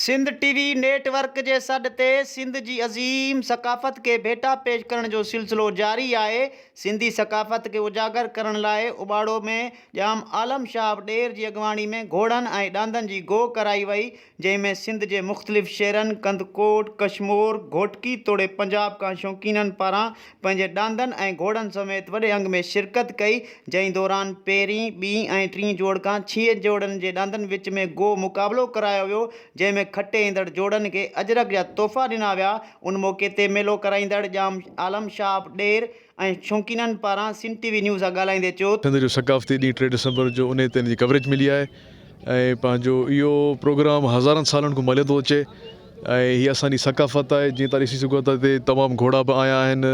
Sindh T V network جي سڏ تي سنڌ جي عظيم ثقافت کي ڀيٽا پيش ڪرڻ جو سلسلو جاري آهي، سنڌي ثقافت کي اجاگر ڪرڻ لاء اباڙو ۾ ڄام عالم شاهه ڏير جي اڳواڻي ۾ گهوڙن ۽ ڏاندن جي گوء ڪرائي وئي، جنهن ۾ سنڌ جي مختلف شهرن ڪنڌڪوٽ، ڪشمور، گهوٽڪي توڙي پنجاب کان شوقينن پاران پنهنجي ڏاندن ۽ گهوڙن سميت وڏي انگ ۾ شرڪت ڪئي، جنهن دوران پهرين، ٻي ۽ ٽين جوڙ کان ڇهه جوڙن جي ڏاندن وچ ۾ گو مقابلو ڪرايو ويو، جنهن ۾ کٽي ايندڙ جوڙن کي اجرڪ جا تحفا ڏنا ويا، ان موقعي تي ميلو ڪرائيندڙ ڄام عالم شهاب ڏير ۽ شوقينن پاران سنڌ ٽي وي نيوز سان ڳالهائيندي چيو ته. سنڌ جو ثقافتي ڏينهن ٽي ڊسمبر جو انهي تي ان جي ڪوريج ملي آهي ۽ پنهنجو اهو پروگرام هزارن سالن کان مليو ٿو اچي. ۽ هي اسان جي ثقافت آهي جيئن تهان ڏسي سگهو ٿا هتي تمام گهوڙا به آيا آهن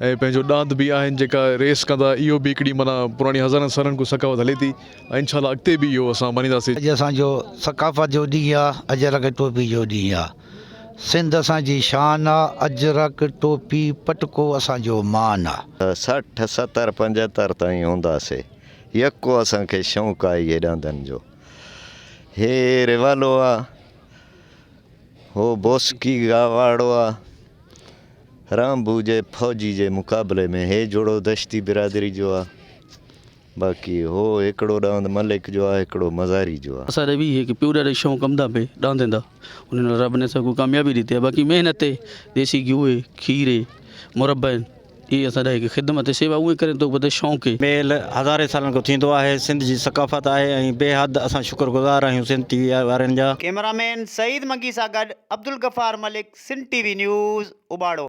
۽ پنهنجو ڏاند به آهن جيڪا ريس ڪندا اهو به هڪڙي معنيٰ پراڻي هزارن سالن کان ثقافت هلي ٿي ۽ انشاء الله اڳتي به اهو اسان مڃينداسي. اڄ اسان جو ثقافت جو ڏينهن آ اجرڪ ٽوپي جو ڏينهن آ سنڌ اسان جي شان آ اجرڪ ٽوپي پٽڪو اسان جو مان آ. سٺ ستر پنجهتر تائين هونداسي يڪو اسان کي شونق آهي هي ڏاندن جو هي ريوالو آ. هو بوسڪي گاواڙو آ رامبو جي فوجي جي مقابلي ۾ هي جوڙو دشتي برادري جو آ باقي هو هڪڙو ڏاند ملڪ جو آ هڪڙو مزاري جو آ. اسان ري وي هي ڪي پيو ڏري شون ڪم دا پي ڏاند دا انهن رب ني سگو ڪاميابي ڏي تي باقي مهنت اي ديسي گيو اي کير اي مربع اين هي اسان لاء هڪ خدمت ۽ سيوا اونئي ڪرين ٿو بده شونڪي. ميل هزارين سالن کان ٿيندو آهي سنڌ جي ثقافت آهي ۽ بيحد اسان شڪر گذار آهيون سنڌ ٽي وي وارين جا. ڪيمرامين سعيد منگي سان گڏ Abdul Ghaffar Malik Sindh T V news Ubauro.